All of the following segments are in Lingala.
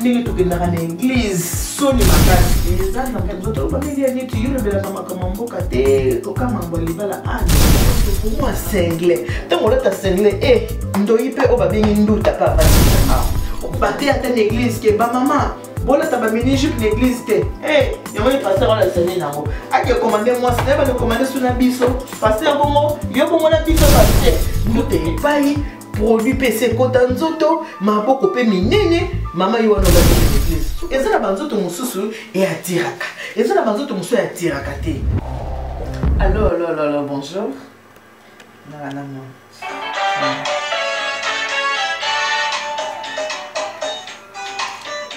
ndenge tokendaka na eglise soni makasi eza nzoto oloba ndenge ya neti yo olobelaka makambo ya mboka te koka mambo ya libala aokomwa single ntango olata single e eh, ndoi mpe oyo babengi nduta mpe avandisaka obate ata na eglise ke bamama bolata bamini jupe na eglise te eh, yango ye paster olalisa nini yango ake komande mwasi naye bande komande su na biso paster bongo yo bongo na biso paster ndute epai produit mpe esi ekota nzoto maboko mpe minene mama ye wana oza eza na banzoto mosusu eatiraka eza na banzoto mosusu eatiraka te allo allo allo allo bonjour nalanano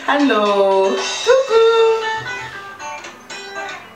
allo coucou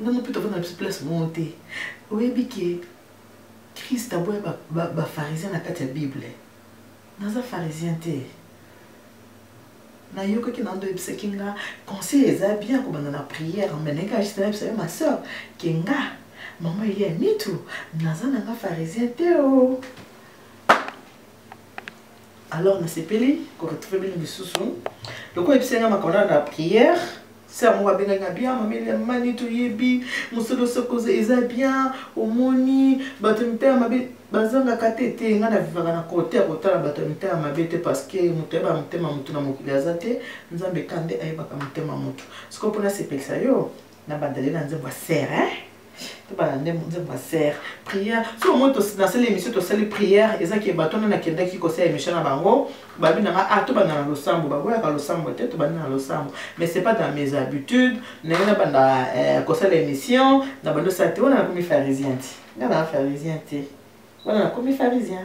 nga mope tofanda na biso place moko te oyebi ke krist aboya bafarisien na kati ya bible naza farisien te nayokaki na ndo oyebisaki nga conseil eza bien kobanda na prière me naye kaka juste nayebisa yo ma soeur ke nga mama elia mitu naza na nga farisien te o oh. alors nasepeli ko retrouver bino lisusu lokola yebisaki nga makambo na prière sere moko abengaki nga bien mameli ya mani toyebi mosolo sokoza eza bien omoni bato ya mitema mabe bazangaka te te ngai navivaka na kote ya kotala bato ya mitema mabe te parceke moto ayebaka motema motu na mokili aza te nzambe kande ayebaka motema motu sikoyo mpo nasepelisa yo na bandele na nzembo ya serre hein? tobanda nde nzembo ya serre prière so omoi nasali émission tosali prière eza ke bato nde nakendaki kosala émission na bango babi nanga ah tobanda na losambo baboyaka losambo te tobandi na losambo mais c'est pas dans mes habitudes naye nabanda eh, kosala émission na bando osala te wana nakomi pharisien te nga na pharisien te wana nakomi pharisien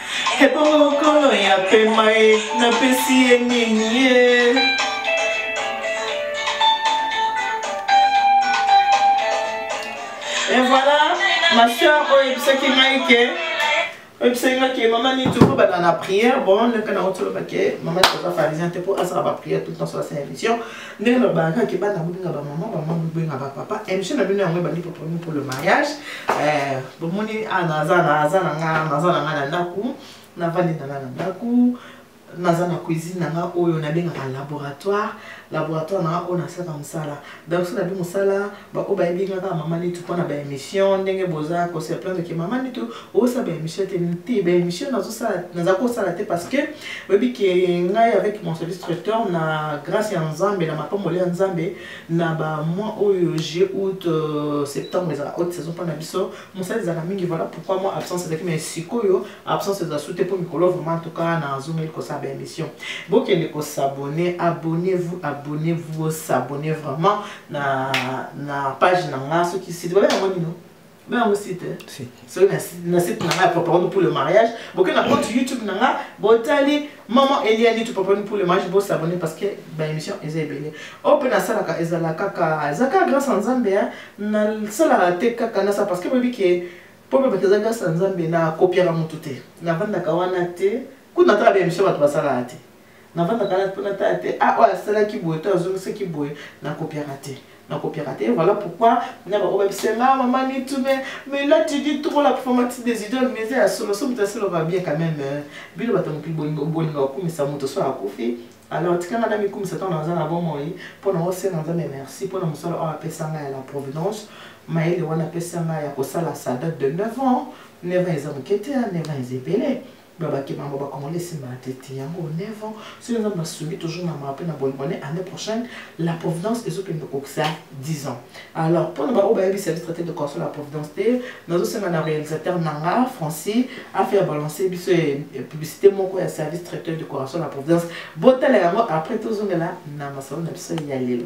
Ebongo kolo ya pema e napesi ye nini ye Et voilà, ma soeur oyebisaki ngai ke oyebisaki ngai ke mama nini tokobanda na prière bon ndenge na otoloba ke mama toza pharisien te mpo asala baprière tout temps sola sa émission ndenge nalobaka ke bana bobenga bamama bamama bobenga bapapa émission na bino yango ebandi poponi pour le mariage eh, bomoni ah, naza na nga naza na nga na ndako navandi na nga na ndako naza na cuisine na nga oyo nabengaka laboratoire laboratoire na nga oyo nasalaka mosala donc so nabi mosala baoyo bayebi nga kaka mama nitu mpo na baémission ndenge boza kose plaindre ke mama nitu osala baémission te te baémission naza kosala te parce que oyebi ke ngai avec mon service traiteur na grâce ya nzambe na mapamboli ya nzambe na bamois oyo juillet août euh, septembre ezala haute saison mpo na biso mosala ezalaka mingi voilà pourquoi moi absence ezalaki mais sikoyo absence eza su te mpo mikolo vraiment tuka nazongeli kosala baémission bokende kosabonne abonnez vous abonnez vous osabonne vraiment na na page na nga soki site babe yango nino babe yango site eh? soki na site na nga ya propagande pour le mariage boke na compte youtube na nga botali maman eliani to propagande pour le mariage bosabone parce que baémission eza ebele oyo mpe nasalaka ezala kaka eza kaka grâce ya nzambe eh? nasalaka te kaka nasa parce que boyebi ke mpo bebaka eza grâce ya nzambe nakopiaka motu te navandaka wana te kuna atala baémission bato basalaka te navandaka na mpo natala te a ah, oyo asalaki boye to azongisaki boye nakopiaka te nakopiaka te voilà pourquoi na bango babisanga mama nitu me mais là tu dis trop la performance des idoles mais ya solo so moto asalaka bien quand même euh, bino bato mokili bolinga kokumisa moto so akufi alors tikanga na mikumisa ntango naza na bomoi mpo na osenga nzambe merci mpo na mosala oyo apesa ngai ya la providence mayele wana apesa ngai ya kosala sa date de 9 ans 9 ans eza moke te 9 ans eza ebele babaki bango bacongolais esimba na tete yango 9 ans soki nzambe nasungi toujours na mawa mpe na bonibone année prochaine la providence ezokende kokisa 10 ans alors mpo na baoyo bayebi service traité de corso la providence te nazosenga na réalisateur na nga francis afaya balance biso publicité moko ya service traité de corso la providence botala yango après tozongela na masolo na biso ya lelo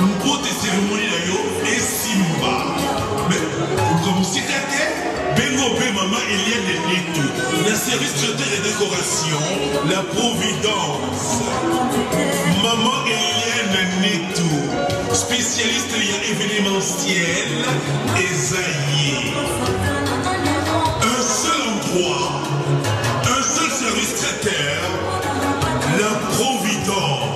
Mbote ceremonie na yo esimba. Mais luka mosika te benga mpe mama Eliane Letu na service traiteur et décoration la Providence. Mama Eliane Letu spécialiste ya événementiel eza ye. Un seul endroit, un seul service traiteur, la Providence.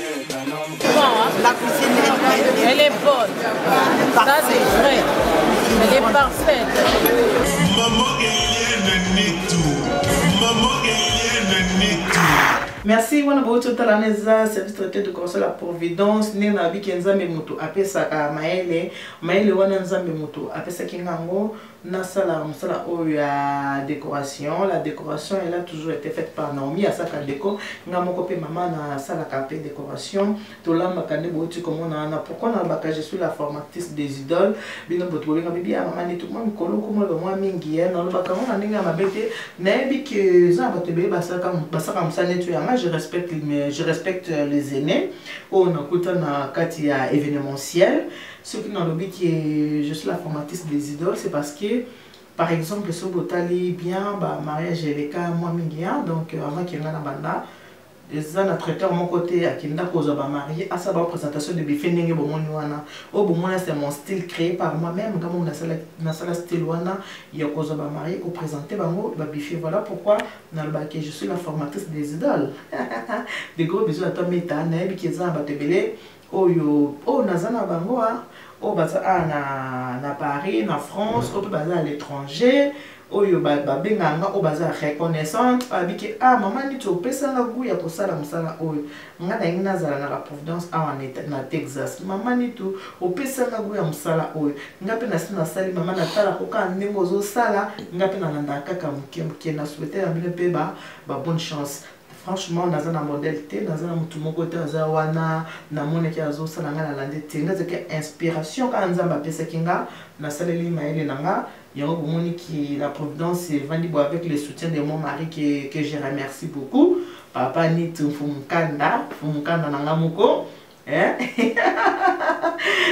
La cuisine est Elle est bonne. Ça, c'est vrai. Elle est parfaite. Maman Eliane Nitu. Maman Eliane Nitu. merci wana bouti otalana eza service traité de conseil ya providence ndenge nayebiki nzambe moto apesaka mayele mayele wana nzambe moto apesaki nga yango nasala mosala oyo ya décoration la décoration elle a toujours été faite par naomi asaka deko nga moko mpe mama nasalaka mpe décoration tolambaka nde bouti komona wana pourkui nalobaka je suis la formatrice des idoles bino boto bobenga bibi ya mama neti mwa mikolo komoloba mwa mingi ye nalobaka ngo na ndenge ya mabe te nayebi ke eza na bato ebele basaka mosala neti oyo yanga je respecte je respecte les aînés oyo nakuta na kati ya événementiel Ce qui nalobi que je suis la formatrice des idoles, c'est parce que par exemple soki botali bien ba mariage eleka mwa mingi ya donc euh, avant kenga na banda eza na traiteur moko te akenda kozwa bamarie asala ba présentation de buffet ndenge bomoni wana oyo bomona c'est mon style créé par moi même nga moko nasala style wana ya kozwa bamarie koprésente bango babuffet voilà pourquoi nalobaki je suis la formatrice des idoles de gros bisous na toi meta nayebi ki eza na bato ebele oyo oyo naza na bango a ah, oyo baza a ah, na, na paris na france oyo mpe baza à l'étranger oyo babengaka nga oyo baza reconnaissante babi ke a ah, mama niti opesanga gout ya kosala mosala oyo nga nalingi nazala na la providence awa na texas mama niti opesanga gout ya mosala oyo nga mpe nasi nasali mama natala kokaa ndenge ozosala nga mpe nalandaka kaka moke moke na souhaite ya bino mpe ba bonne chance franchement naza na modèle te naza na motu moko te aza wana namonaki azosala ngai nalandi te nga ezalaki inspiration kaka nzambe apesaki nga nasaleli mayele na nga yango bomoni ki la providence evandi bo avec le soutien de mon mari que, que je remercie beaucoup papa nit mfumukanda mfumukanda na nga moko Eh?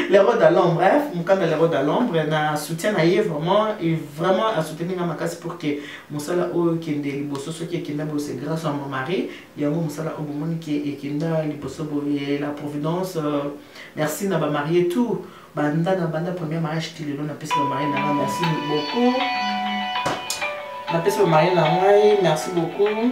l'héros de l'ombre hein? mukanda l'héros de l'ombre na soutien na ye vraiment il vraiment a soutenu nga makasi pour que mosala oyo ekende liboso soki ekenda boye c'est grâce à mon mari yango mosala oyo bomoni ke ekenda liboso boye la providence euh, merci na bamarie tout banda na banda premier mariage ti lelo napesi bamarie na nga merci beaucoup napesi bamarie na ngai merci beaucoup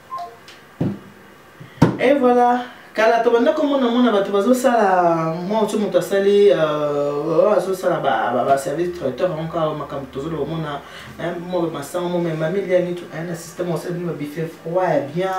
et voilà kala tobanda komona mona bato bazosala mwa oso moto asali euh, azosala baservice traiteur yango kaka makambo tozolo komona mwa bamasango momemami liani na systeme osala bino babife froid ya bien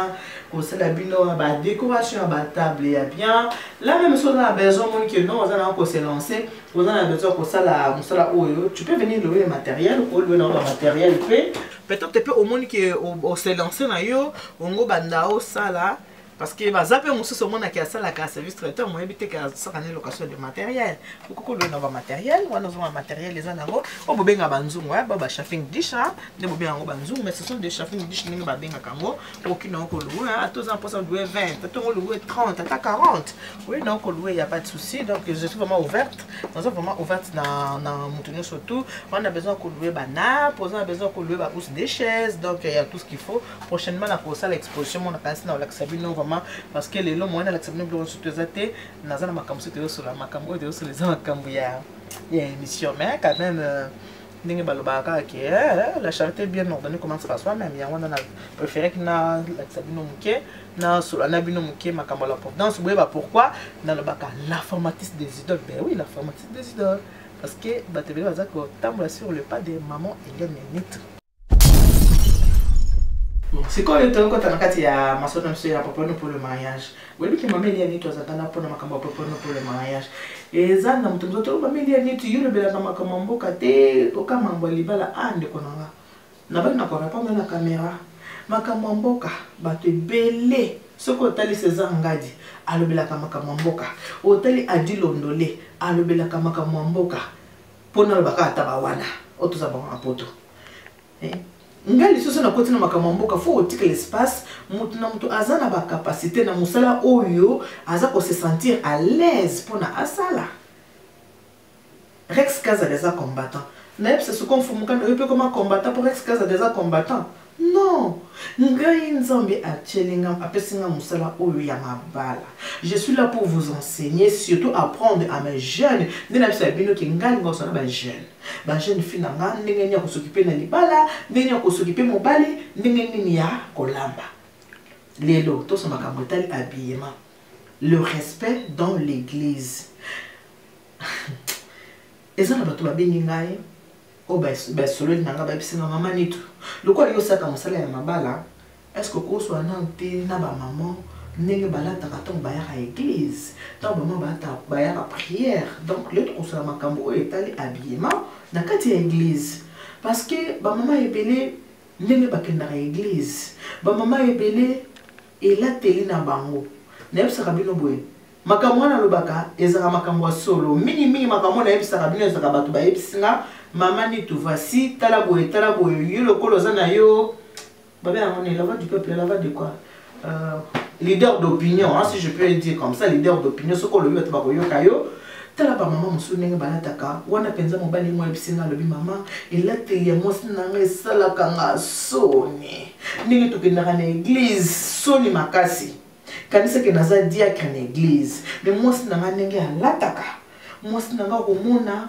kosala bino badécoration ya batable ya bien la même soki oza na besoin moni ke non oza nanga koselance oza na besoin kosala mosala oyo tu peux venir lowe le matériel oluwe nango bamateriel mpe peut-être mpe omoni ke oselance na yo ongo banda osala parce que baza mpe mosusu omonaki asalaka service traiteur moyebi te asaka na location de matériel okokolo na bamateriel wana ozonga materiel eza nango oyo bobenga banzungu ba bashaffing dish nde bobenga yango banzungu mais ce sont des shaffing dish ndenge babengaka yango oki na oko louer hein ata oza mposa louer 20 ata ngo louer 30 ata 40 oye na oko louer ya pas de souci donc je suis vraiment ouverte naza vraiment ouverte na na moto nyonso tout on a besoin ko louer banap oza na besoin ko louer bahousse des chaises donc il y a tout ce qu'il faut prochainement na kosala exposition mona kasi na olakisa bino vraiment parce que lelo moyen nalakisa bino biloko nyonso to eza te naza na makambo so toyosola makambo oyo toyosola eza makambo ya ya émission mais quand même euh, ndenge balobaka kaka ke eh, la charité bien ordonnée commence par soi même yango wana na préféraki nalakisa bino moke nasola na bino moke makambo ya la providence boyeba pourquoi nalobaka la formatrice des idoles ben oui la formatrice des idoles parce que bato ebele baza kotambola sur le pas de maman eliane nitre sikoyo tokokota na kati ya masolo na biso ya papa no pour le mariage Boyebi ke mama Elia Nitu azalaka na mpo na makambo ya popono mpo le mariage eza na moto mozoto oh, mama Elia Nitu yo olobelaka makambo ya mboka te oka mambo ya libala a ah, ndeko na nga nabaki na korepondre na kamera makambo ya mboka bato ebele soki otali césar ngadi alobelaka makambo ya mboka otali adi londole alobelaka makambo ya mboka mpo nalobaka ata bawana oyo toza bango na poto Eh, ngai lisusu nakoti na makambo ya mboka fo otikela espace moto na moto aza na bacapacité na mosala oyo aza kose sentir à l'aise mpona asala rex kazala eza combattant nayebisa soko mfumukanda oyo mpe koma combattant mpo rex kazala eza combattant non ngai nzambe atyeli nga apesi nga mosala oyo ya mabala je suis là pour vous enseigner surtout apprendre à mes jeunes nde nayebisa bino ke ngai linga kosala bajeune ba jeune fille na nga ndenge nini ya kosokipe na libala ndenge nini ya kosokipe mobali ndenge nini ya kolamba lelo tosa makambo etali habillement le respect dans l'église eza na bato babengi ngai oyo basololi na ngai bayebisi nga mama nitu lokola yo osaka mosala ya mabala Est-ce que okoswa nanu te na ba maman ndenge balataka ntango bayaka eglise, ntango ba maman bayaka prière? Donc lelo tokosola makambo oyo etali habillement na kati ya eglise parce que ba maman ebele ndenge bakendaka eglise, ba maman ebele elateli na bango. Nayebisaka bino boye makambo wana alobaka ezalaka makambo ya solo mingi mingi makambo oyo nayebisaka bino ezalaka bato bayebisi nga mama nitu vasi tala boye tala boye yo lokola oza na yo Babe yango ne la voix du peuple la voix de quoi euh, leader d'opinion hein, si je peux dire comme ça leader d'opinion soki olobi bato bakoyoka yo tala bamama mosusu ndenge balataka wana mpenza mobali mwa yebisi nga alobi mama elateli ya mwasi na ngai esalaka nga soni ndenge tokendaka na eglize soni makasi kanisaki naza diacre na eglize me mwasi na ngai ndenge alataka mwasi na ngai komona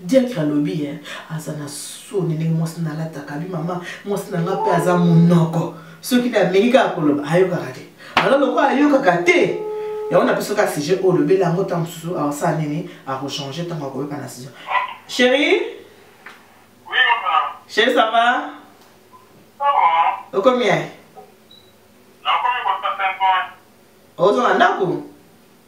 diatre alobi ye aza na soni ndenge mwasi na alataka bi mama mwasi na nga mpe aza monoko soki na ameki kaka koloba ayokaka te alors lokola ayokaka te yango na biso ka sujet oyo olobeli yango ntango mosusu asala nini akochange ntango akoyoka na sujet chéri chéri ça va okomi ye ozonga ndako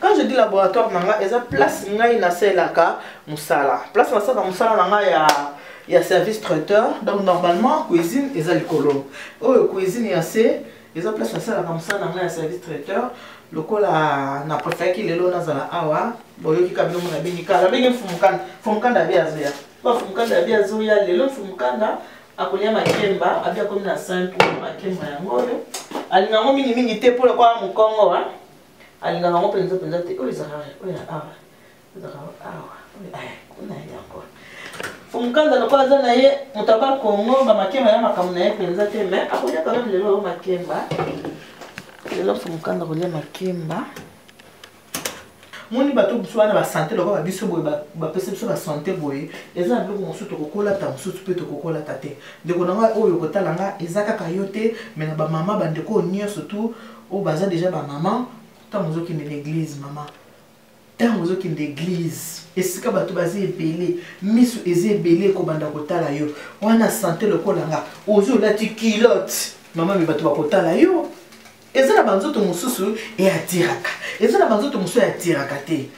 quand je dis laboratoire na nga eza place ngai nasalelaka mosala place nasalaka mosala na nga ya ya service traiteur donc normalement cuisine eza likolo oyo cuisine ya se eza place nasalaka mosala na nga ya service traiteur lokola na préféraki lelo nazala awa boyoki kabino mona bengi kala bengi mfumukanda mfumukanda abi azoya bafumukanda abi azoya lelo mfumukanda akolia makemba abi akomi na 5 makemba yango oyo alinga yango mingimingi te mpo lokola mokongo alingaka yango mpenza mpenza te oyo ezaka oyo ya awa ezaka awa kuna ye yango fumukanza lokola aza na ye moto aba kongo bamakemba ya makambo na ye mpenza te mai akolia kaka lelo oyo makemba lelo fumukanza kolia makemba moni bato mosusu wana basante lokola babiso boye bapesi biso basante boye eza na biloko mosusu tokokolata mosusu mpe tokokolata te ndeko na ngai oyo okotala nga eza kaka yo te me na bamama bandeko oyo nyonso tu oyo baza deja ba maman ntango ozokende na eglise mama ntango ozokende eglise esika bato baza ebele miso eza ebele ekobanda kotala yo wana sante lokola nga ozi olati kilote mama me bato bakotala yo eza na banzoto mosusu eatiraka eza na banzoto mosusu eatiraka te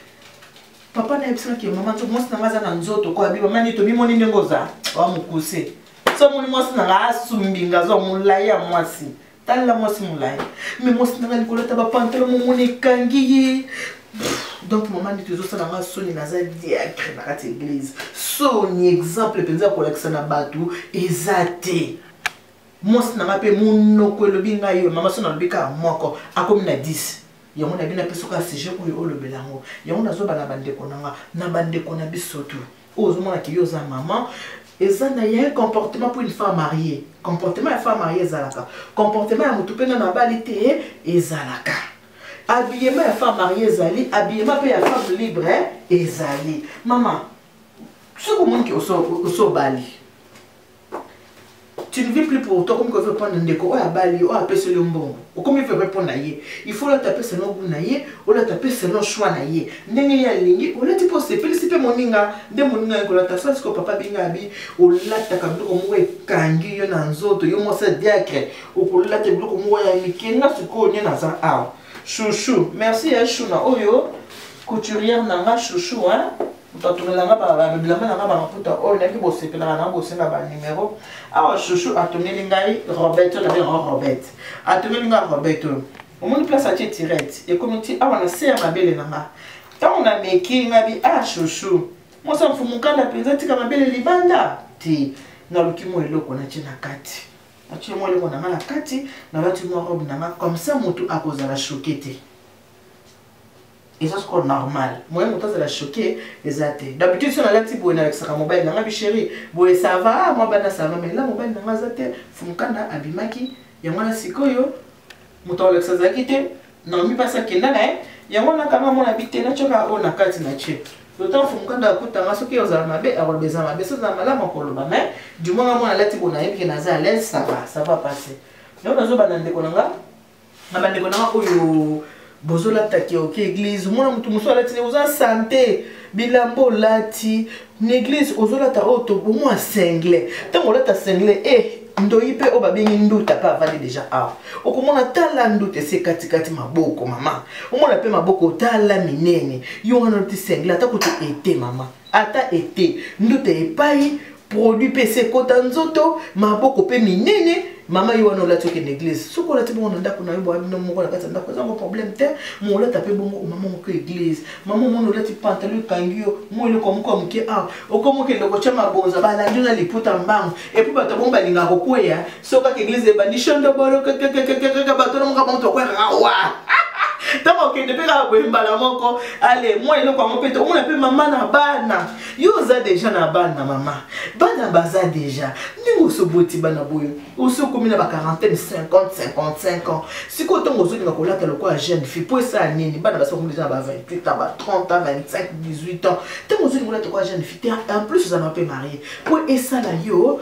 papa nayebisaki mama to mwasi na ngai aza na nzoto ko abi mama nito bimoni ndenge oza wa mokuse so moni mwasi na ngai asumbi nga azwa molai ya mwasi talela mwasi molai me mwasi nanga likolo ata bapantalo momoni ekangi ye donc mama ndito ezosala nga soni naza diacre na kati eglise soni exemple mpenza ya kolakisa na bato eza te mwasi na nga mpe monoko elobi ngai yo mama soni alobi kaka moko akomi na 10 yango na bino apesoka sujet oyo olobela yango yango nazobala bandeko na nga na bandeko na biso tout oyo ozomona ke yo oza maman eza na ya comportement pour une femme mariée comportement ya femme mariée ezalaka comportement ya motu mpe nano abali te ezalaka habillement ya femme mariée ezali habillement mpe ya femme libre ezali mama soki omoni ke osobali tu ne vis plus pour toi okomi ko vivre mpo na ndeko oyo abali yo oyo apeseli yo mbongo okomi vivre mpo na ye il faut olata mpe selon gout na ye olata mpe selon choix na ye ndenge ye alingi olati mpo osepelisi mpe moninga nde moninga ye kolata sala siko papa binga abi olataka biloko moko ekangi yo na nzoto yo mwasi diacre okolata biloko moko ya mike nga sikoyo nde naza awa chouchou merci ya shuna oyo couturière na nga chouchou hein moto atunela nga babilamba na nga bamaputa oyo nayaki bosepelaka na bosenga banumero awa shushu atongeli ngai robert oyo nabe yango robert atongeli ngai robert oyo omoni place atie tirete ekomi ti awa na se ya mabele na nga ntango nameki ngai bi a ah, shushu mosa mfumukanda mpenza tika mabele libanda te naluki mwa eloko natie na kati natie mwa eloko na nga na kati nalati mwa robe na nga comme ça motu akozala choke te eza soko normal moyen moto azala choqué eza te d'habitude so nalati boye nalakisaka mobali nanga bisheri boye sava ah, mwa bana sava mai la mobali nanga aza te fumukanda abimaki yango wana sikoyo moto akolakisa azalaki te naomi mpasi akenda na ye yango wana kanga mona bi te natyoka oyo na kati na tie lotan fumukanda akutanga soki ozala mabe akoloba eza mabe so ozala malamu akoloba mai du moins nga mwana alati boye nayebi ke naza alaise sava sava pase yango nazobanda ndeko na nga na bandeko nanga oyo bozolata ke oke eglise omona motu mosusu alati ndenge oza sante bilamba olati na eglise ozolata oyo oh, tobomwa single ntango olata single e eh, ndoyi mpe oyo babengi nduta mpe avandi deja awa okomona tala nduta esi ekatikati maboko mama omona mpe maboko tala minene yo wana olati single ata kutu ete mama ata ete nduta epai produit mpe se ekota nzoto maboko mpe minene mama yo wana olati okende eglise soki olati bongo na ndako na yo bwabino moko na kati ya ndako ezango problème te mo olata mpe bongo omama moko eglise mama omoni olati pantalo ekangi yo mo eloko moko ya moke awa okomi okende kotya mabonza balandi yo na liputa mbango epuis bato bongo balingaka kokweya soki kaka eglise ebandi shondobolo kakakakaka bato na moka moto akwekaka wa ntango okende mpe kaka boye mbala moko ale mwa eloko yango mpe tomona mpe mama na bana yo oza deja na bana mama bana baza deja ndenge osoboti bana boye osi okomi na baquarantene 50 55 ans sikoyo ntango ozolinga kolata lokola jeune fille mpo esala nini bana basi bakomi deja na ba 28 ans ba 30 ans 25 18 ans ntango ozolinga kolata lokola jeune fille te en plus ozala mpe marie mpo esala yo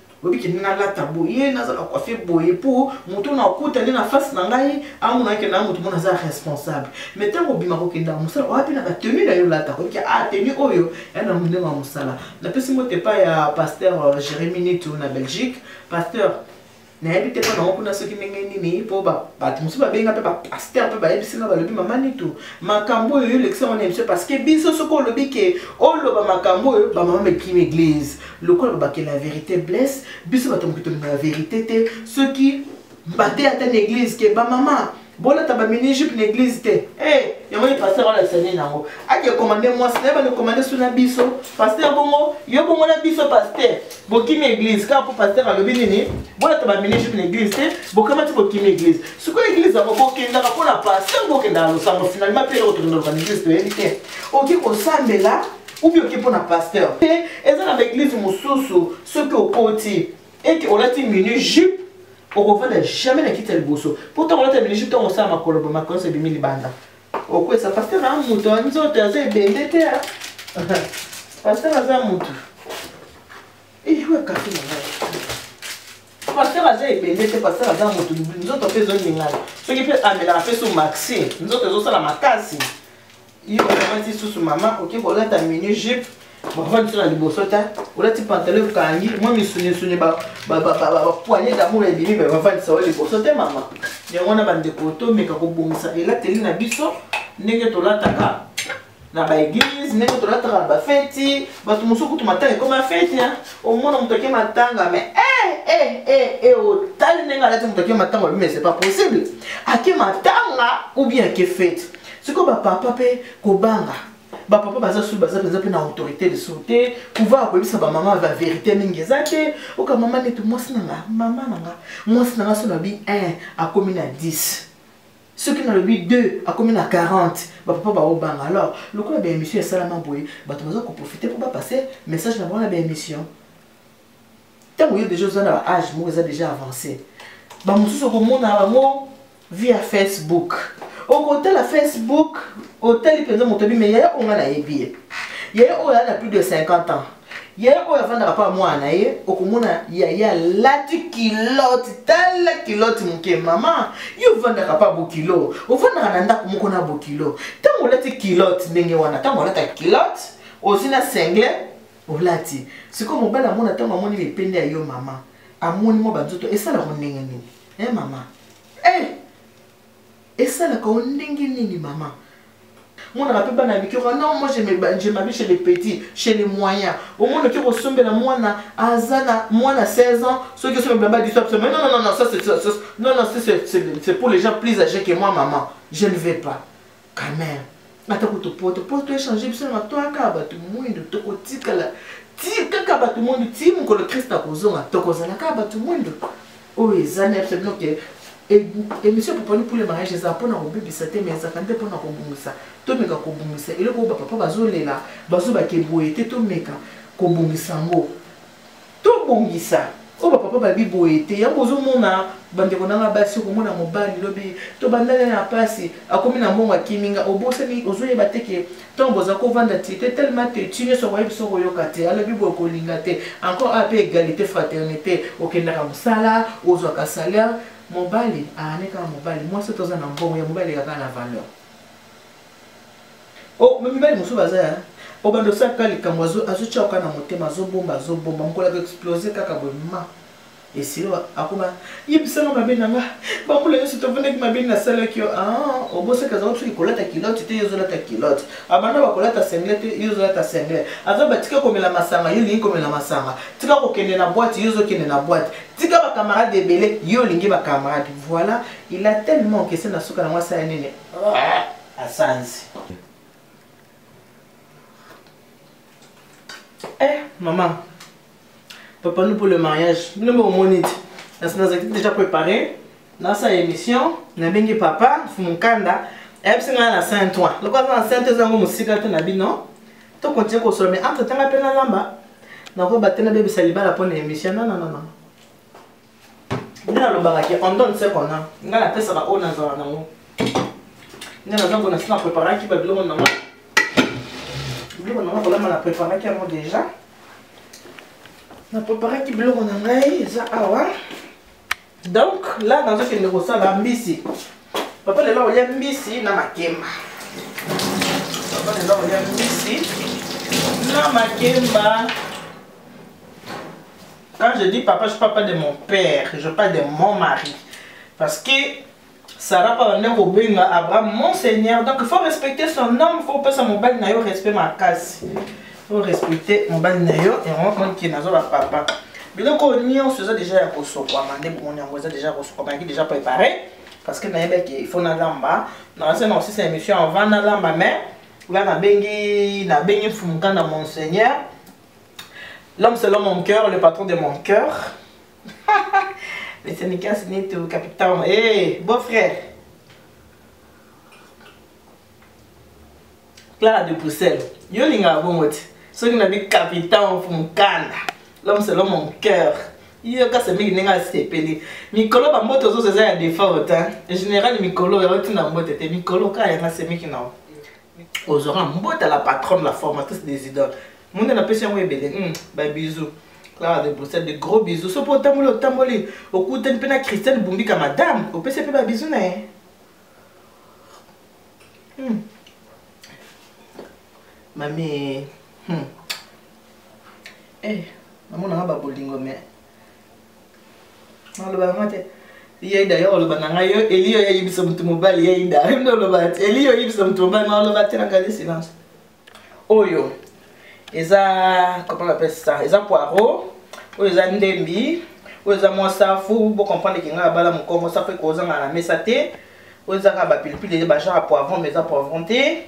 oyebi kende nalata boye nazala koafe boye mpo moto na okutani na face na ngai amona kende na moto mona aza responsable mai ntango obima kokenda mosala oya mpe na batenu na yo lata oyebi a ah, tenu oyo ya na mondenge ya mosala napesi moto epai ya pasteur euh, jérémi nitu na belgique pasteur nayebi te mpo nango kuna soki ndenge nini mpo bato mosusu babenga mpe bapaster mpe bayebisi nga balobi mama nitu makambo oyo olekisa wana emission parce que biso soki olobi ke oloba makambo oyo bamama mekimi eglise lokola babakela ya verité blesse biso bato moki tolinga ya verité te soki mbate ata na église ke bamama bolata bamini jupe na église te e eh, yango ye paster olalisa nini yango ake komande mwasi na ye bande komande so na biso paster bongo yo bongo na biso paster bokimi église kaka mpo paster alobi nini bolata bamini jupe na église te bokamati bokimi église sikoyo église yango bokendaka mpo na paster bokendaka losango finalement mpe eloko tokendaka na église toyebi te oki kosambela ou bien oke mpo na pasteur te eza na baeglise mosusu soki okoti ete olati minu jupe okovanda jamais na kiti ya liboso mpo ntango olati ya minu jupe ntango osala makoloba makonso ebimi libanda okwesa pasteur na moto ya nzoto aza ebende te pasteur aza moto ewe eh, kafe na ngai pasteur aza ebende te pasteur aza moto nzoto mpe ezoningana soki mpe amelaka mpe so maxi nzoto ezosala makasi yo olati susu mama oke kolata mini jupe bavandi so na liboso ta olati pantalon ekangi mwa misunisuni bapoigne damour ebimi me bavandisa yo liboso te mama yango wana bandeko tomeka kobongisa elateli na biso ndenge tolataka na baeglise ndenge tolataka na bafeti bato mosusu kutu matanga ekoma feti omona moto ake matanga me eh, eh, eh, otali ndenge alati moto ake matanga obimese pas possible ake matanga ou bien ake feti siko ba papa pe kobanga ba papa baza sous baza penza pe na autorité de sauté pouvoir ko bisa ba maman ba vérité mingi eza te oka maman netu mwasi na nga maman na nga mwasi na nga sona bi 1 akomi na 10 ceux qui nalobi 2 akomi na 40 bapapa baobanga alors lokola baémission esalama boye bato baza koprofite mpo bapasse message na bango na baémission ntango yo deja oza na ba age moko eza deja avance bamosusu okomona bango via facebook okotala facebook otali mpenza moto abi me yaya oyo ngai nayebi ye yaya oyo aa na plus de 50 ans yaya oyo avandaka mpo ya mwana na ye okomona yaya alati kiloti tala kiloti moke mama ye ovandaka mpo ya bokilo ovandaka na ndako moko na bokilo ntango olati kiloti ndenge wana ntango olataka kiloti osi na single olati sikoyo mobali amona ntango amoni bipende ya yo mama amoni mwa banzoto esalaka ndenge nini e eh, mama e eh! esalaka o ndenge nini mama monaka mpe bana mike oka non moi je mabi chez les petits chez les moyens omona oki kosombela mwana aza na mwana 16 ans soki osombela ba disop mais non non non ça c'est non non c'est pour les gens plus âgés que moi maman je ne vais pas Kamer, ata kutu poto, poto echange biso na matoa kaka bato mwindo, tokotikala ti kaka bato mwindo, ti mokolo Christ akozonga, tokozala kaka bato mwindo. Oyo eza na biso bino ke emission popani pour le mariage eza mpona kobebisa te mais ezalaka nde mpona kobongisa tomeka kobongisa eloko oyo bapapa bazolela bazobake boye te tomeka kobongisa yango tobongisa oyo bapapa babi boye te yango ozomona bandeko nanga basi okomona mobali lobi tobandani na mpasi akomi na mbongo akimi nga obosani ozoyeba te ke ntango boza kovanda ti te telema te ti nyonso okoyebi biso koyoka te alobi boye kolinga te encore a mpe égalité fraternité okendaka mosala ozwaka salaire mobali aane kaka mobali mwasi toza na mbongo ya mobali ekaka na valeur Oh, mibali mosusu baza ya obanda osala kaka likambo azotya oka na motema azobomba azobomba mokolo ako explose kaka boye ma esili akoma yebisanga mabe na nga bambula nyonso tofandaki mabe nasalaki yo ah, obosaki azalaki soki kolata kilote te yo ozolata kilote abanda bakolata sengle te yo ozolata sengle aza batika komela masanga yo olingi komela masanga tika kokende na bwate yo ozokende na bwate tika bakamarade ebele yo olingi bakamarade voilà il a tellement kese na suka na mwasi ya nene asanzi eh maman papa nous pour le mariage bino moko omoni ti nazalaki déjà préparé nasala émission nabengi papa mfumu nkanda ayebisi ngai na saint toi loko aza na saint ezango mosika te na bino tokontinue kosolo mais entre tanga mpe nalamba nakoba te nabebisa libala mpo na émission nananana nde nalobaka ke on donne ce qu'on a ngai napesaka oyo nazala nango nde naza mpona si na préparaki babiloko nango biloko nango kolamba na préparaki yango déjà na préparaki biloko na ngai eza awa donc la nazokende kosala mbisi papa lelo akolia mbisi na makemba papa lelo akolia mbisi na makemba Quand je dis papa, je parle pas de mon père, je parle de mon mari. Parce que Sarah parle de Robin, Abraham, mon Seigneur. Donc il faut respecter son nom, il faut pas son mobile nayo respect ma casse. Il faut respecter mon mobile nayo et on va qui nazo la papa. biloko nyonso eza deja ya kosokwama nde bomoni yango eza deja kosokwama yaki deja préparé parce que nayebaki il faut nalamba naza na osisa émission avant nalamba mais nga nabengi nabengi mfumuka na monseigneur L'homme selon mon cœur, le patron de mon cœur. Monsieur Nicolas Neto, capitaine. Hé, hey, beau-frère. Clara de Bruxelles. Yo linga bongo ti. Soki na bi capitaine Funkanda. L'homme selon mon cœur. Yo kasi mingi ndenge asepeli. Mikolo ba mbote ozozo eza ya default. Hein? Général mikolo ya otina mbote te. Mikolo kaka yanga semeki na yo. ozwaka mbota la patronne la formatrice des idoles monde napesi yango ebele hmm, babisou clara de bruxelles de gros bisou so mpo otamboli otamboli okutani mpe na christiane bumbika madame opesi mpe babisou na ye hmm. mami hmm. eh, namonaka babolingo mais oloba yango te yeida yo oloba na ngai yo eli yo yayibisa motu mobali yeida yo nde oloba te eli yo oyibisa motu mobali ma oloba te na ngai silence oyo eza comment on appelle ça eza poireau oyo eza ndembi oyo eza mwa safu bocomprendre ke ngai abala mokongo safu ekozanga na mesa te oyo ezaka bapilipili bagenre ya poivron mais eza poivron te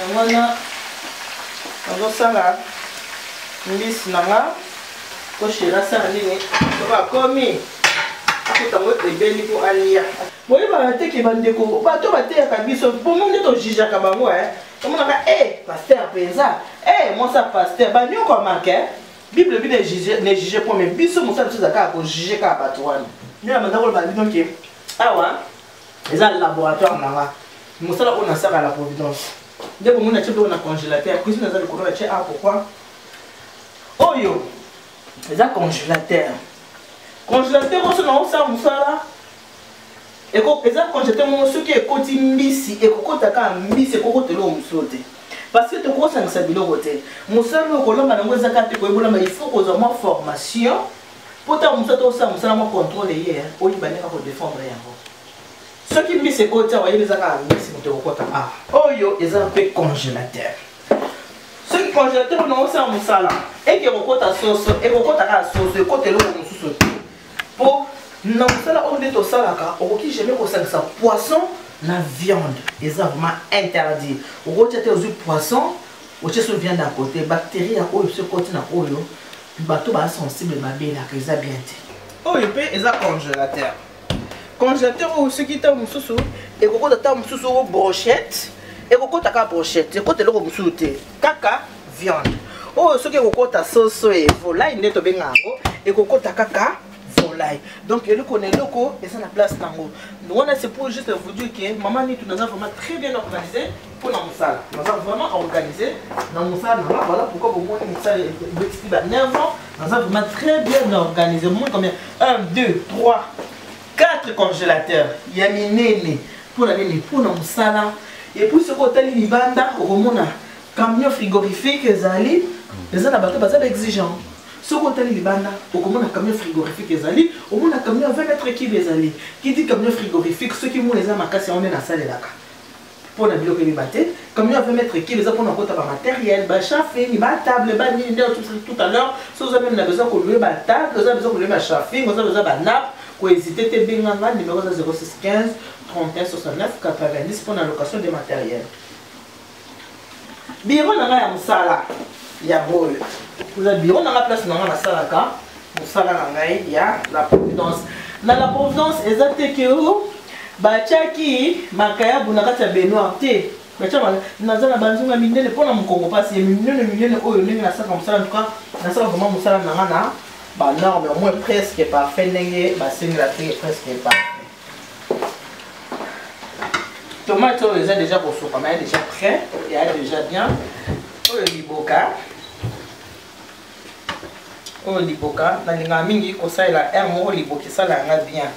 yango wana nazosala mbisi na nga po sheri asala nini soki akomi akuta ngo ebeli mpo alia boyebaka te ke bandeko bato bateyaka biso bongo nde tojijaka bango e eh. omonaka e eh, paster mpenza e eh, mwasi ya paster banyokwamaka bible bi ne juge po me biso mosala biso eza kaka kojuge kaka bato wana nde na bandako loba bino ke awa eza laboratoire na nga mosala oyo nasaka la providence nde bomoni na tie biloko na congélateur cuisine eza likolo na tie a pourquoi oyo eza congélateur congélateur oso na osala mosala eza congélateur moko soki ekoti mbisi ekokota kaka mbisi ekokota eloko mosusu te parce que tokosangisa biloko te mosala oyo kolamba nango eza kaka te koyebolama il faut kozwa mwa formation mpo ntango mosusu ata osala mosala mwa contrôle eye eh, oyiba ndenge kodefendre yango soki mbisi ekoti awa yebi eza kaka mbisi moto ekokota awa ah, oyo eza mpe congélateur soki congélateur ona osala mosala eke ekokota soso ekokota kaka soso ekota eloko mosusu te mpo na mosala oyo nde tosalaka okoki jamais kosangisa poisson na viande eza vraiment interdit okotya te ozwi poisson otye so viande ya kote bactérie ya oyo so ekoti na oyo bato ba sensible babelaka eza bien te oyo mpe eza congélateur congélateur oyo soki ntango mosusu ekokota ntango mosusu o brochette ekokota kaka brochette ekota eloko mosusu te kaka viande oyo soki ekokota soso evolai nde tobenga yango ekokota kaka volaille donc eloko na eloko eza na place nango wana c'est pour juste vous dire que mama nitu naza vraiment très bien organisé mpo na mosala naza vraiment organisé na mosala nanga voilà pourquoi bomoni mosala ebetisi ba 9 ans naza vraiment très bien organisé bomoni combien 1 2 3 4 congélateur ya minene mpo na nini mpo na mosala epuis soki otali libanda okomona camion frigorifique ezali eza na bato baza ba exigent soki otali libanda okomona camion frigorifique ezali omona camion 20 mètre kibe ezali kiti camion frigorifique soki moi eza makasi yango nde nasalelaka mpo na biloko ebeba te camion 20 mètre kibe eza mpona kota bamateriel bachafing batable banini nde tout à l'heure so oza meme na besoin kolue batable oza besoin kolue bachafing oza besoin banape koezite te benganga numero eza 0615 31 69 90 mpo na location de matériel biro na ngai ya mosala ya boye oza biro na ngai place na ngai nasalaka mosala na ngai ya la providence na la providence eza te ke oh, batyaki makayabu na kati ya benoir te batya naza na banzunga minene mpo na mokongo mpasi ya minene minene oyo ndenge nasalaka mosala ntuka nasala vraimen mosala na ngai na banorme au moins presque parfait ndenge basengelaki presque parfait tomate oyo eza deja kosokama ya deja prêt ya deja bien oyo liboka oyo liboka nalingaka mingi kosalela r moko liboka esala yanga bien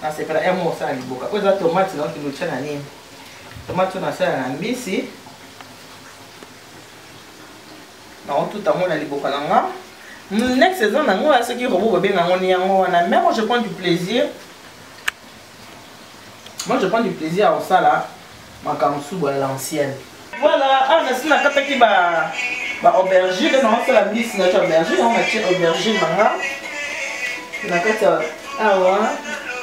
nasepela r moko osala liboka oyo eza tomate na kilotya na nini tomate oyo nasala na mbisi nakotuta yango na liboka na nga next eza na yango ya soki robo babenga yango ni yango wana mais moi je prends du plaisir moi je prends du plaisir ya kosala makambo subu ya l'ancienne voilà awa nasi nakataki ba ba aubergine nde nakosala mbisi nati aubergine yango natie aubergine na nga na kati ya awa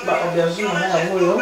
ba aubergine na nga yango oyo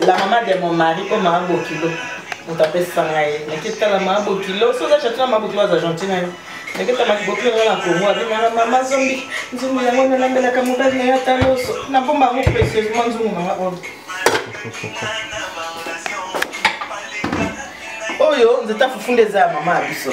la mama de mon mari oyo mama bokilo moto apesa ngai naketala mama bokilo so oza chatuna mama bokilo aza gentil na yo naketamaki bokilo nga na kongo abengana mama zombi nzungu yango nalambelaka mobali na yo ata loso nabomba yango precieusement nzungu nanga oyo oyo nzeta fufu nde eza ya mama ya biso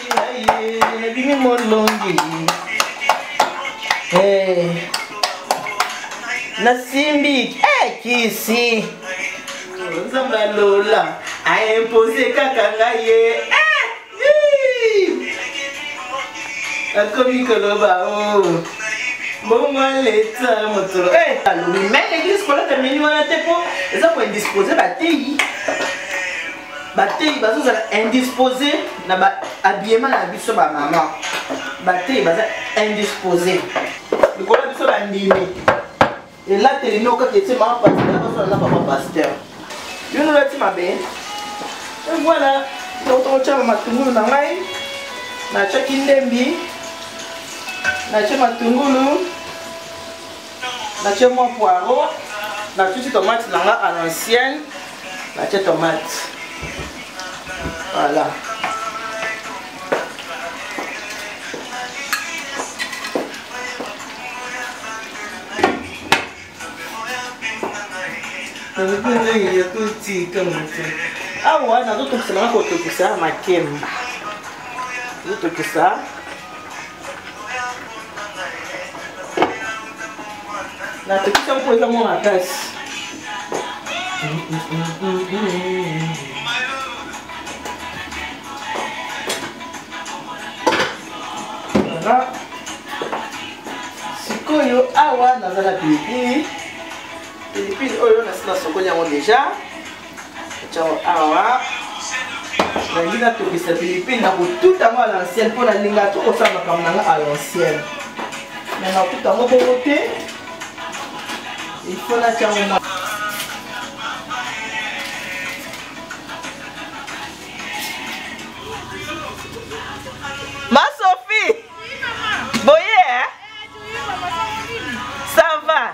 ebimi molongi eh. nasimbi eh, kisi nzambe ya lola aimpose kaka ngai ye eh, akomi koloba o oh. bongo leta moto alobi mai eglise kolata meni wana te mpo eza koindispose bateyi bateyi bazozala indispose na ba habillement na biso bamama bateyi baza indispose likolo ya biso bandimi elateli no kaka ete mama pasteur bazala na papa pasteur yo nolati mabe voilà tokotyaka matungulu na ngai natyaki ndembi natye matungulu natie mwa poiro natuti tomate na nga à l'ancienne natie tomate voilà nakoki ya kotika moto awa nazotokisa nanga kotokisa makemba zotokisa La petite femme pouvait vraiment la place. Voilà. sikoyo awa naza na pilipili pilipili oyo nasi nasokoli yango deja Ciao awa. Nalingi natokisa Philippine na kotuta yango à l'ancienne mpo nalinga to kosala makambo na nga à l'ancienne. Me nakuta yango bongo te. Il faut natya yango mwa. Ma Sophie! Boye, eh? Ça va?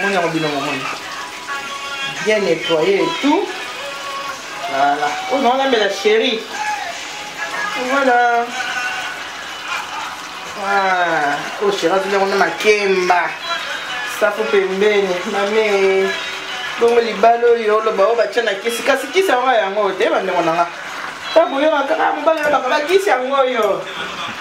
moni yango bino momoni bien nettoye et tout voilà oyo nango namela chéri voilà ah, oyo oh, chéri azoli yango na makemba safu pembeni mame bongo libala oyo oloba oyo batya na kisi kasi kisi yango yango te bandeko na nga ntango oyokaka kaka mobali olobaka bakisi yango oyo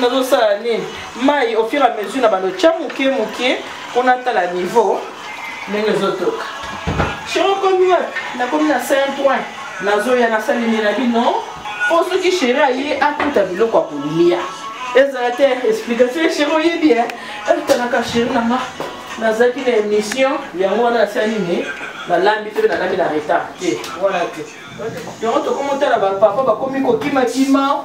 nazosala nini mai au fur à mesure na balotya moke moke mpo natala niveau ndenge ezotoka sheokomi wapi nakomi na 5 point nazoya nasaleli na bino mpo soki sheri aye akuta biloko ya kolia ezala te explication ya sheri oyebi e etanaka sheri nanga nazalaki na émission yango wana nasala nini nalambi te mpe nalambi na retard te wana te yango tokomi otala bapapa bakomi kokimakima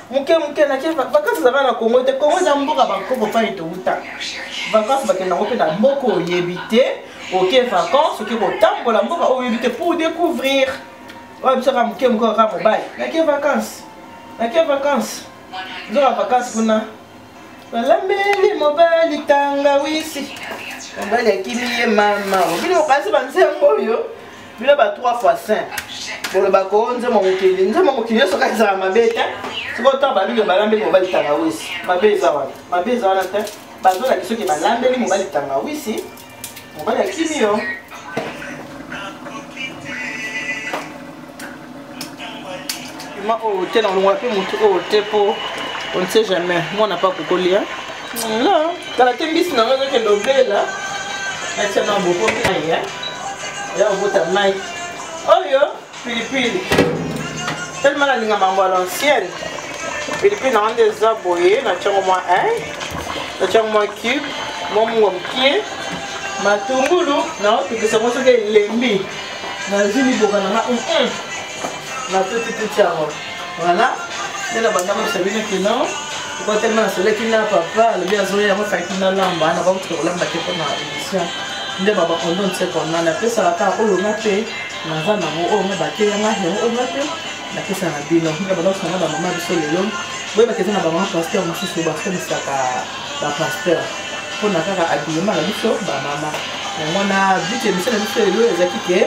moke moke nake vakansi ezalaka na kongo te kongo eza mboka bakoko mpani touta vakansi bakenda yango mpe na mboka oyebi te oke vakansi oke kotambola mboka oyo oyebi te pour découvrir oyo biso kaka moke moke kaka mobali nake vakansi nake vakansi nzoka vakansi kuna balambeli mobali tangawisi mobali akimi ye mama obino okanisi banzembo oyo bino ba 3 fois 5 boloba ko nzembo mokili nzembo mokili nyonso kaka ezala mabe te soko ntango babino balambeli mobali tangawisi mabe eza wana mabe eza wana te bazolaki soki balambeli mobali tangawisi Mobali akimi yo. Ima oyo te na olongola mpe motu oyo te mpo on ne sait jamais mwana mpe akokolia. No, kala te mbisi na ngai ezokende obela. Atia na boko mai ya. Ya obota mai. Oyo. pilipili telema nalinga mambo ya l'ancienne pilipili nanga nde eza boye natyango mwa eh, natyango mwa cube mwa mungo mokie matungulu naotokisa ngo soki elembi nazwi liboka nanga natutituti yango voilà nde na banda mosa bino kino okotelema nasoleki na papa alobi azoya yango faki nalamba nakokuta kolamba te mpo na émission nde babakondo nsekona napesaka kaka olonga te naza nango oyo nga bateya nga yango oyo nga mpe napesa na bino nga banaosa nga bamama biso lelo boyebaka eza na bamama pasteur mosusu bakomisaka bapasteur mpo na kaka abilema na biso bamama yango na but emission na biso lelo ezalaki ke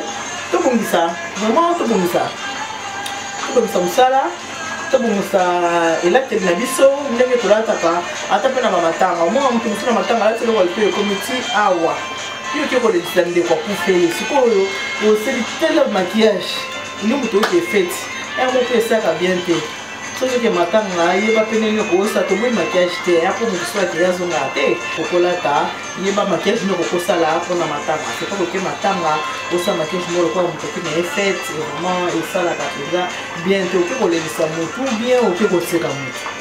tobongisa vraiment tobongisa tobongisa mosala tobongisa elateli na biso ndenge tolataka ata mpe na bamatanga omona moto mosusu na matanga alati eloko lito ekomi ti awa yo oke kolekisa ndeko akufeli sikoyo oseli tele maquillage nde moto oke feti yango mpe esaka bien te soki oke matanga yeba mpe ndenge okokosa toboyi maquillage te ya mpo moto soki akeya azongaka te okolata yeba maquillage nde okokosala mpo na matanga sepa koke matanga osala maquillage moko lokola moto oke na ye fete vraiment esalaka mpenza bien te oke kolekisa motu bien oke koseka motu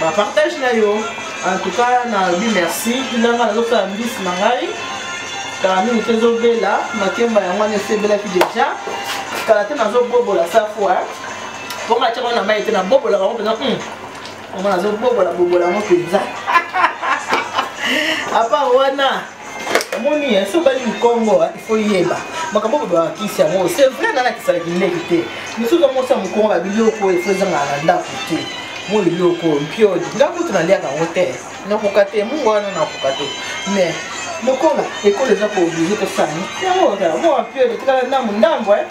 ba partage na yo en tout cas na bi merci bilanga na lofa mbisi na ngai kala mingi te ezobela makemba yango wana esi ebelaki deja kala te nazobobola safo mpo nga tiaka na mai te nabobolaka yango mpenza hmm. yango nazobobola bobola yango mpenza apa wana omoni ye so obali mokongo il faut yeba makambo babakisi yango c'est vrai nalakisalaki ndeki te mosusu amosa mokongo ba biloko oyo efo ezangaka na ndako te mo biloko mpiodi nga kutu naliaka yango te nakoka te mungu wana nakoka te mais lokola ekolo eza kooblige tosani yango ozala moa mpiodi tikala ndambo ndambo e eh.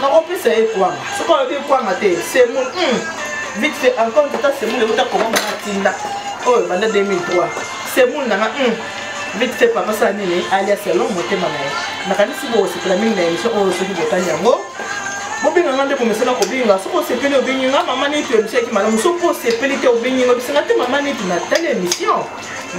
nakopesa ye kwanga soki alobi ekwanga te semul hmm. vite fait encore tata semul euta koma mona tinda oyo banda 2003 semul nanga hmm. vite fait papa sala nini alias alon motema na ye nakanisi bokosepela mingi na émission oyo soki botali yango bobenga nga nde komesana kobenga soki osepeli obengi nga mama neti emission yaki malamu soki osepeli te obengi nga bisenga te mama neti natali émission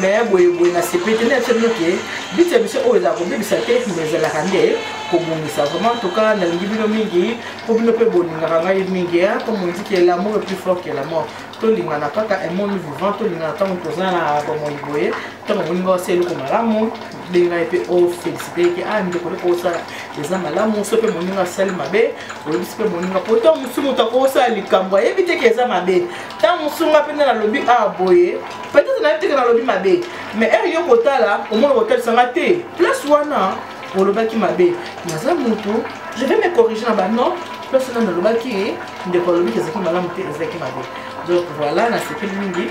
mais boye boye na sepe te nayebisa bino ke biti ya biso oyo ezala kobebisa te mais ezalaka nde kobongisa vraiment toka nalingi bino mingi mpo bino mpe bolingaka ngai mingi mpo mondiki ya lamour plus fort que la mort tolingana kaka emoni vivant tolingana ntango toza na bomoi boye ntango omoni ngai osala eloko malamu bengai mpe ofélicité ke a ndeko eloko osala eza malamu so mpe moninga asali mabe oyebisi mpe moninga mpo ntango mosusu moto akosala likambo ayebi te ke eza mabe ntango mosusu nga mpe nde nalobi a boye peut-être nayebi te ke nalobi mabe mais heure yo kotala omona kotalisa nga te place wana olobaki mabe naza motu je vais me corriger na banon place wana nalobaki ndeko alobiki ezalaki malamu te ezalaki mabe donc voilà nasepeli mingi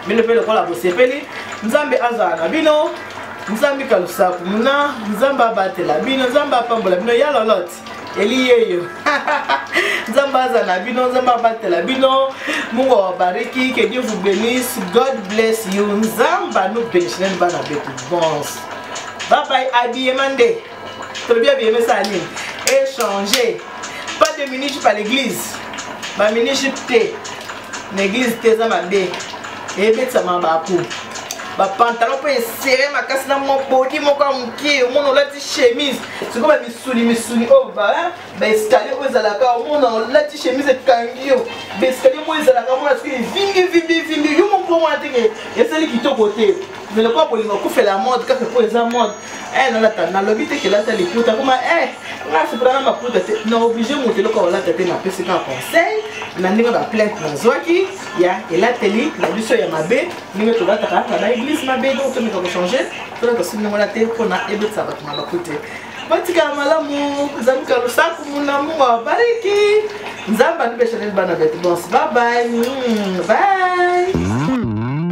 bino mpe lokola bosepeli nzambe azala na bino nzambe kalusaku muna nzambe abatela bino nzambe apambola bino ya lolote eliyeyo nzambe aza na bino nzambe abatela bino mungu awabariki que dieu vous bénisse god bless you nzambe anu benishinen bana betu bons babai abiyema nde tolobi abiyema esala nini échanger pas de minute par l'église baminute te na église te eza mabe ebetisama baku bapantalon mpe esere makasi na mobodi moko ya moke omona olati chemise sikoyo bamisuni misuni oyo baescalier oyo ezalaka omona olati chemise ekangi yo baescalier moko ezalaka mona soki evingi vimbi vimbi yo moko omona teke esali kitoko te mais lokola bolingo okufela mode kaka mpo eza mode eh, nalata nalobi te kelata liputa koma eh, nga sepela na maputa te na oblige moto eloko olata te napesi kaka conseil na ndenge baplainte nazwaki ya elateli na biso ya mabe ndenge tolataka na baeglise mabe donc tomeka kochange tolata soki ndenge wana te mpona ebetisa bato mabaku te batikala malamu nzambe kalusaku mulamu abariki nzambe andibeshaneli bana betu bonse babai bai mm.